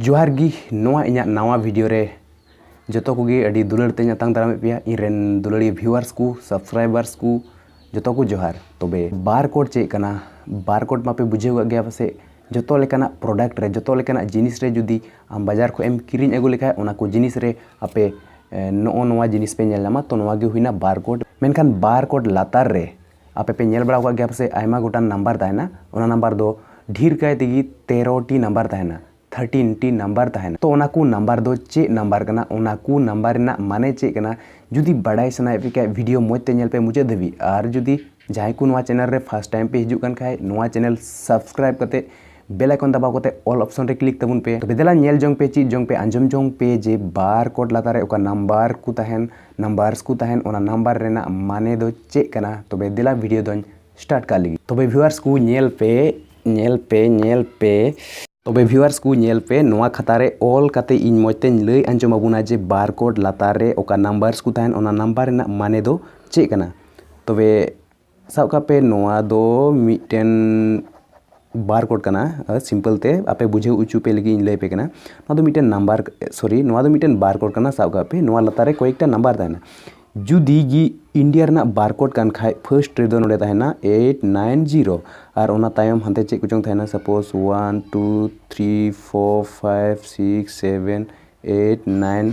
ᱡᱚᱦᱟᱨ ᱜᱤ ᱱᱚᱣᱟ ᱤᱧᱟᱹᱜ ᱱᱟᱣᱟ ᱵᱷᱤᱰᱤᱭᱳ ᱨᱮ ᱡᱚᱛᱚ ᱠᱚᱜᱮ ᱟᱹᱰᱤ ᱫᱩᱞᱟᱹᱲ ᱛᱮᱧ ᱟᱛᱟᱝ ᱫᱟᱨᱟᱢᱮᱫ ᱯᱮᱭᱟ ᱤᱧ ᱨᱮᱱ ᱫᱩᱞᱟᱹᱲᱤᱭᱟᱹ ᱵᱷᱤᱣᱟᱨᱥ ᱠᱚ ᱥᱟᱵᱥᱠᱨᱟᱭᱵᱟᱨᱥ ᱠᱚ ᱡᱚᱛᱚ ᱠᱚ ᱡᱚᱦᱟᱨ ᱛᱚᱵᱮ ᱵᱟᱨ ᱠᱳᱰ ᱪᱮᱫ ᱠᱟᱱᱟ ᱵᱟᱨ ᱠᱳᱰ ᱢᱟᱯᱮ ᱵᱩᱡᱷᱟᱹᱣ ᱠᱟᱜ ᱜᱮᱭᱟ ᱯᱟᱥᱮᱡ ᱡᱚᱛᱚ ᱞᱮᱠᱟᱱᱟᱜ ᱯᱨᱚᱰᱟᱠᱴ ᱨᱮ ᱡᱚᱛᱚ ᱞᱮᱠᱟᱱᱟᱜ ᱡᱤᱱᱤᱥ ᱨᱮ ᱡᱩᱫᱤ ᱟᱢ ᱵᱟᱡᱟᱨ ᱠᱷᱚᱡ ᱮᱢ ᱠᱤᱨᱤᱧ ᱟᱹᱜᱩ ᱞᱮᱠᱷᱟᱡ ᱚᱱᱟ ᱠᱚ ᱡᱤᱱᱤᱥ ᱨᱮ ᱟᱯᱮ ᱱᱚᱜᱼᱚ ᱱᱚᱣᱟ ᱡᱤᱱᱤᱥ ᱯᱮ ᱧᱮᱞ ᱧᱟᱢᱟ ᱛᱚ ᱱᱚᱣᱟ ᱜᱮ ᱦᱩᱭᱱᱟ ᱵᱟᱨ ᱠᱳᱰ ᱢᱮᱱᱠᱷᱟᱱ ᱵᱟᱨ ᱠᱳᱰ ᱞᱟᱛᱟᱨ ᱨᱮ ᱟᱯᱮ ᱯᱮ ᱧᱮᱞ ᱵᱟᱲᱟ ᱟᱠᱟᱫ ᱜᱮᱭᱟ ᱯᱟᱥᱮ ᱟᱭᱢᱟ ᱜᱚᱴᱟᱝ ᱱᱟᱢᱵᱟᱨ ᱛᱟᱦᱮᱱᱟ ᱚᱱᱟ ᱱᱟᱢᱵᱟᱨ ᱫᱚ ᱰᱷᱮᱨ ᱠᱟᱭ ᱛᱮᱜᱮ ᱛᱮᱨᱚ ᱴᱤ ᱱᱟᱢᱵᱟᱨ ᱛᱟᱦᱮᱱᱟ ᱛᱷᱟᱨᱴᱤᱱ ᱴᱤ ᱱᱟᱢᱵᱟᱨ ᱛᱟᱦᱮᱱᱟ ᱛᱚ ᱚᱱᱟ ᱠᱚ ᱱᱟᱢᱵᱟᱨ ᱫᱚ ᱪᱮᱫ ᱱᱟᱢᱵᱟᱨ ᱠᱟᱱᱟ ᱚᱱᱟ ᱠᱚ ᱱᱟᱢᱵᱟᱨ ᱨᱮᱱᱟᱜ ᱢᱟᱱᱮ ᱪᱮᱫ ᱠᱟᱱᱟ ᱡᱩᱫᱤ ᱵᱟᱰᱟᱭ ᱥᱟᱱᱟᱭᱮᱫ ᱯᱮ ᱠᱷᱟᱡ ᱵᱷᱤᱰᱤᱭᱳ ᱢᱚᱡᱽ ᱛᱮ ᱧᱮᱞ ᱯᱮ ᱢᱩᱪᱟᱹᱫ ᱫᱷᱟᱹᱵᱤᱡ ᱟᱨ ᱡᱩᱫᱤ ᱡᱟᱦᱟᱸᱭ ᱠᱚ ᱱᱚᱣᱟ ᱪᱮᱱᱮᱞ ᱨᱮ ᱯᱷᱟᱥᱴ ᱴᱟᱭᱤᱢ ᱯᱮ ᱦᱤᱡᱩᱜ ᱠᱟᱱ ᱠᱷᱟᱡ ᱱᱚᱣᱟ ᱪᱮᱱᱮᱞ ᱥᱟᱵᱥᱠᱨᱟᱭᱤᱵ ᱠᱟᱛᱮᱫ ᱵᱮᱞ ᱟᱭᱠᱚᱱ ᱫᱟᱵᱟᱣ ᱠᱟᱛᱮ ᱚᱞ ᱚᱯᱥᱚᱱ ᱨᱮ ᱠᱞᱤᱠ ᱛᱟᱵᱚᱱ ᱯᱮ ᱛᱚᱵᱮ ᱫᱮᱞᱟ ᱧᱮᱞ ᱡᱚᱝ ᱯᱮ ᱪᱮᱫ ᱡᱚᱝ ᱯᱮ ᱟᱸᱡᱚᱢ ᱡᱚᱝ ᱯᱮ ᱡᱮ ᱵᱟᱨ ᱠᱳᱰ ᱞᱟᱛᱟᱨ ᱨᱮ ᱚᱠᱟ ᱱᱟᱢᱵᱟᱨ ᱠᱚ ᱛᱟᱦᱮᱱ ᱱᱟᱢᱵᱟᱨᱥ ᱠᱚ ᱛᱟᱦᱮᱱ ᱚᱱᱟ ᱱᱟᱢᱵᱟᱨ ᱨᱮᱱᱟᱜ ᱢᱟᱱᱮ ᱫᱚ ᱪᱮᱫ ᱠᱟᱱᱟ ᱛᱚᱵᱮ ᱫᱮᱞᱟ ᱵᱷᱤᱰᱤᱭᱳ ᱫᱚᱧ ᱥᱴᱟᱨᱴ ᱠᱟᱜ ᱞᱟᱹᱜᱤᱫ ᱛᱚᱵᱮ ᱵᱷᱤᱣᱟᱨᱥ ᱠᱚ ᱧᱮᱞ ᱯᱮ ᱧᱮᱞ ᱯᱮ ᱧᱮᱞ ᱯᱮ ᱛᱚᱵᱮ ᱵᱷᱤᱣᱟᱨᱥ ᱠᱚ ᱧᱮᱞ ᱯᱮ ᱱᱚᱣᱟ ᱠᱷᱟᱛᱟ ᱨᱮ ᱚᱞ ᱠᱟᱛᱮ ᱤᱧ ᱢᱚᱡᱽ ᱛᱮᱧ ᱞᱟᱹᱭ ᱟᱸᱡᱚᱢ ᱟᱵᱚᱱᱟ ᱡᱮ ᱵᱟᱨ ᱠᱳᱰ ᱞᱟᱛᱟᱨ ᱨᱮ ᱚᱠᱟ ᱱᱟᱢᱵᱟᱨᱥ ᱠᱚ ᱛᱟᱦᱮᱱ ᱚᱱᱟ ᱱᱟᱢᱵᱟᱨ ᱨᱮᱱᱟᱜ ᱢᱟᱱᱮ ᱫᱚ ᱪᱮᱫ ᱠᱟᱱᱟ ᱛᱚᱵᱮ ᱥᱟᱵ ᱠᱟᱜ ᱯᱮ ᱱᱚᱣᱟ ᱫᱚ ᱢᱤᱫᱴᱮᱱ ᱵᱟᱨ ᱠᱳᱰ ᱠᱟᱱᱟ ᱥᱤᱢᱯᱮᱞ ᱛᱮ ᱟᱯᱮ ᱵᱩᱡᱷᱟᱹᱣ ᱦᱚᱪᱚ ᱯᱮ ᱞᱟᱹᱜᱤᱫ ᱤᱧ ᱞᱟᱹᱭ ᱯᱮ ᱠᱟᱱᱟ ᱱᱚᱣᱟ ᱫᱚ ᱢᱤᱫᱴᱮᱱ ᱱᱟᱢᱵᱟᱨ ᱥᱚᱨᱤ ᱱᱚᱣᱟ ᱫᱚ ᱢᱤᱫᱴᱮᱱ ᱵᱟᱨ ᱠᱳᱰ ᱠᱟᱱᱟ ᱥᱟᱵ ᱠᱟᱜ ᱯᱮ ᱱᱚᱣᱟ ᱞᱟᱛᱟᱨ ᱨᱮ ᱠᱚᱭᱮᱠᱴᱟ ᱱᱟᱢᱵᱟᱨ ᱛᱟᱦᱮᱱᱟ ᱡᱩᱫᱤ ᱜᱮ ᱤᱱᱰᱤᱭᱟ ᱨᱮᱱᱟᱜ ᱵᱟᱨ ᱠᱳᱰ ᱠᱟᱱ ᱠᱷᱟᱡ ᱯᱷᱟᱹᱥᱴ ᱨᱮᱫᱚ ᱱᱚᱰᱮ ᱛᱟᱦᱮᱱᱟ ᱮᱭᱤᱴ ᱱᱟᱭᱤᱱ ᱡᱤᱨᱳ ᱟᱨ ᱚᱱᱟ ᱛᱟᱭᱚᱢ ᱦᱟᱱᱛᱮ ᱪᱮᱫ ᱠᱚᱪᱚᱝ ᱛᱟᱦᱮᱱᱟ suppose one two three four five six seven eight nine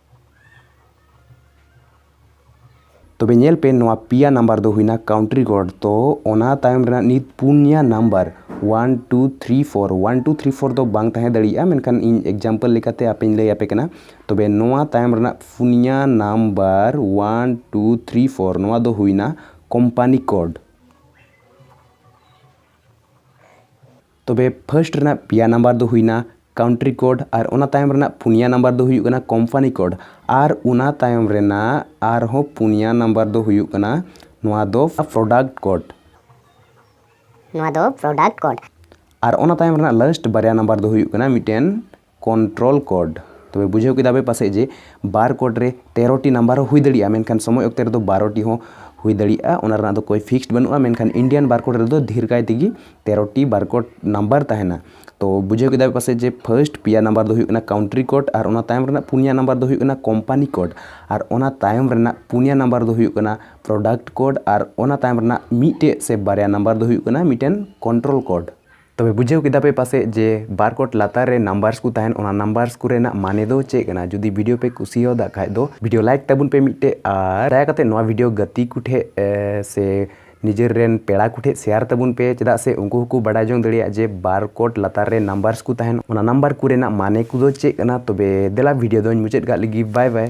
ᱛᱚᱵᱮ ᱧᱮᱞ ᱯᱮ ᱱᱚᱣᱟ ᱯᱮᱭᱟ ᱱᱟᱢᱵᱟᱨ ᱫᱚ ᱦᱩᱭᱱᱟ ᱠᱟᱣᱩᱱᱴᱨᱤ ᱠᱳᱰ ᱛᱚ ᱚᱱᱟ ᱛᱟᱭᱚᱢ ᱨᱮᱱᱟᱜ ᱱᱤᱛ ᱯᱩᱱᱭᱟ number one two three four one two three four ᱫᱚ ᱵᱟᱝ ᱛᱟᱦᱮᱸ ᱫᱟᱲᱮᱭᱟᱜᱼᱟ ᱢᱮᱱᱠᱷᱟᱱ ᱤᱧ ᱮᱠᱡᱟᱢᱯᱚᱞ ᱞᱮᱠᱟᱛᱮ ᱟᱯᱮᱧ ᱞᱟᱹᱭ ᱟᱯᱮ ᱠᱟᱱᱟ ᱛᱚᱵᱮ ᱱᱚᱣᱟ ᱛᱟᱭᱚᱢ ᱨᱮᱱᱟᱜ ᱯᱩᱱᱭᱟ number one two three four ᱱᱚᱣᱟ ᱫᱚ ᱦᱩᱭᱱᱟ ᱠᱳᱢᱯᱟᱱᱤ ᱠᱳᱰ ᱛᱚᱵᱮ ᱯᱷᱟᱥᱴ ᱨᱮᱱᱟᱜ ᱯᱮᱭᱟ ᱱᱟᱢᱵᱟᱨ ᱫᱚ ᱦᱩᱭᱱᱟ ᱠᱟᱣᱩᱱᱴᱨᱤ ᱠᱳᱰ ᱟᱨ ᱚᱱᱟ ᱛᱟᱭᱚᱢ ᱨᱮᱱᱟᱜ ᱯᱩᱱᱭᱟ ᱱᱟᱢᱵᱟᱨ ᱫᱚ ᱦᱩᱭᱩᱜ ᱠᱟᱱᱟ ᱠᱳᱢᱯᱟᱱᱤ ᱠᱳᱰ ᱟᱨ ᱚᱱᱟ ᱛᱟᱭᱚᱢ ᱨᱮᱱᱟᱜ ᱟᱨᱦᱚᱸ ᱯᱩᱱᱭᱟ ᱱᱟᱢᱵᱟᱨ ᱫᱚ ᱦᱩᱭᱩᱜ ᱠᱟᱱᱟ ᱱᱚᱣᱟ ᱫᱚ ᱯᱨᱚᱰᱟᱠᱴ ᱠᱳᱰ ᱱᱚᱣᱟ ᱫᱚ ᱯᱨᱚᱰᱟᱠᱴ ᱠᱳᱰ ᱟᱨ ᱚᱱᱟ ᱛᱟᱭᱚᱢ ᱨᱮᱱᱟᱜ ᱞᱟᱥᱴ ᱵᱟᱨᱭᱟ ᱱᱟᱢᱵᱟᱨ ᱫᱚ ᱦᱩᱭᱩᱜ ᱠᱟᱱᱟ ᱢᱤᱫᱴᱮᱱ ᱠᱚᱱᱴᱨᱚᱞ ᱠᱳᱰ ᱛᱚᱵᱮ ᱵᱩᱡᱷᱟᱹᱣ ᱠᱮᱫᱟ ᱯᱮ ᱯᱟᱥᱮᱡ ᱡᱮ ᱵᱟᱨ ᱠᱳᱰ ᱨᱮ ᱛᱮᱨᱚᱴᱤ ᱱᱟᱢᱵᱟᱨ ᱦᱚᱸ ᱦᱩᱭ ᱫᱟᱲᱮᱭᱟᱜᱼᱟ ᱢᱮᱱᱠᱷᱟᱱ ᱥᱚᱢᱚᱭ ᱚᱠᱛᱮ ᱨᱮᱫᱚ ᱵᱟᱨᱚᱴᱤ ᱦᱚᱸ ᱦᱩᱭ ᱫᱟᱲᱮᱭᱟᱜᱼᱟ ᱚᱱᱟ ᱨᱮᱱᱟᱜ ᱫᱚ ᱠᱳᱭ ᱯᱷᱤᱠᱥᱰ ᱵᱟᱹᱱᱩᱜᱼᱟ ᱢᱮᱱᱠᱷᱟᱱ ᱤᱱᱰᱤᱭᱟᱱ ᱵᱟᱨ ᱠᱳᱰ ᱨᱮᱫᱚ ᱰᱷᱮᱨ ᱠᱟᱭ ᱛᱮᱜᱮ ᱛᱮᱨᱚᱴᱤ ᱵᱟᱨ ᱠᱳᱰ ᱱᱟᱢᱵᱟᱨ ᱛᱟᱦᱮᱱᱟ ᱛᱚ ᱵᱩᱡᱷᱟᱹᱣ ᱠᱮᱫᱟ ᱯᱮ ᱯᱟᱥᱮᱡ ᱡᱮ ᱯᱷᱟᱥᱴ ᱯᱮᱭᱟ ᱱᱟᱢᱵᱟᱨ ᱫᱚ ᱦᱩᱭᱩᱜ ᱠᱟᱱᱟ ᱠᱟᱣᱩᱱᱴᱨᱤ ᱠᱳᱰ ᱟᱨ ᱚᱱᱟ ᱛᱟᱭᱚᱢ ᱨᱮᱱᱟᱜ ᱯᱩᱱᱭᱟ ᱱᱟᱢᱵᱟᱨ ᱫᱚ ᱦᱩᱭᱩᱜ ᱠᱟᱱᱟ ᱠᱳᱢᱯᱟᱱᱤ ᱠᱳᱰ ᱟᱨ ᱚᱱᱟ ᱛᱟᱭᱚᱢ ᱨᱮᱱᱟᱜ ᱯᱩᱱᱭᱟ ᱱᱟᱢᱵᱟᱨ ᱫᱚ ᱦᱩᱭᱩᱜ ᱠᱟᱱᱟ ᱯᱨᱚᱰᱟᱠᱴ ᱠᱳᱰ ᱟᱨ ᱚᱱᱟ ᱛᱟᱭᱚᱢ ᱨᱮᱱᱟᱜ ᱢᱤᱫᱴᱮᱡ ᱥᱮ ᱵᱟᱨᱭᱟ ᱱᱟᱢᱵᱟᱨ ᱫᱚ ᱦᱩᱭᱩᱜ ᱠᱟᱱᱟ ᱢᱤᱫᱴᱮᱱ ᱠᱚᱱᱴᱨᱚᱞ ᱠᱳᱰ ᱛᱚᱵᱮ ᱵᱩᱡᱷᱟᱹᱣ ᱠᱮᱫᱟ ᱯᱮ ᱯᱟᱥᱮᱡ ᱡᱮ ᱵᱟᱨ ᱠᱚᱴ ᱞᱟᱛᱟᱨ ᱨᱮ ᱱᱟᱢᱵᱟᱨᱥ ᱠᱚ ᱛᱟᱦᱮᱱ ᱚᱱᱟ ᱱᱟᱢᱵᱟᱨᱥ ᱠᱚᱨᱮᱱᱟᱜ ᱢᱟᱱᱮ ᱫᱚ ᱪᱮᱫ ᱠᱟᱱᱟ ᱡᱩᱫᱤ ᱵᱷᱤᱰᱤᱭᱳ ᱯᱮ ᱠᱩᱥᱤᱭᱟᱫᱟ ᱠᱷᱟᱡ ᱫᱚ ᱵᱷᱤᱰᱤᱭᱳ ᱞᱟᱭᱤᱠ ᱛᱟᱵᱚᱱ ᱯᱮ ᱢᱤᱫᱴᱮᱡ ᱟᱨ ᱫᱟᱭᱟ ᱠᱟᱛᱮ ᱱᱚᱣᱟ ᱵᱷᱤᱰᱤᱭᱳ ᱜᱟᱛᱮ ᱠᱚ ᱴᱷᱮᱡ ᱥᱮ ᱱᱤᱡᱮᱨ ᱨᱮᱱ ᱯᱮᱲᱟ ᱠᱚ ᱴᱷᱮᱡ ᱥᱮᱭᱟᱨ ᱛᱟᱵᱚᱱ ᱯᱮ ᱪᱮᱫᱟᱜ ᱥᱮ ᱩᱱᱠᱩ ᱦᱚᱸᱠᱚ ᱵᱟᱰᱟᱭ ᱡᱚᱝ ᱫᱟᱲᱮᱭᱟᱜ ᱡᱮ ᱵᱟᱨ ᱠᱚᱴ ᱞᱟᱛᱟᱨ ᱨᱮ ᱱᱟᱢᱵᱟᱨᱥ ᱠᱚ ᱛᱟᱦᱮᱱ ᱚᱱᱟ ᱱᱟᱢᱵᱟᱨ ᱠᱚᱨᱮᱱᱟᱜ ᱢᱟᱱᱮ ᱠᱚᱫᱚ ᱪᱮᱫ ᱠᱟᱱᱟ ᱛᱚᱵᱮ ᱫᱮᱞᱟ ᱵᱷᱤᱰᱤᱭᱳ ᱫᱚᱧ ᱢᱩᱪᱟᱹᱫ ᱠᱟᱜ ᱞᱮᱜᱮ ᱵᱟᱭ ᱵᱟᱭ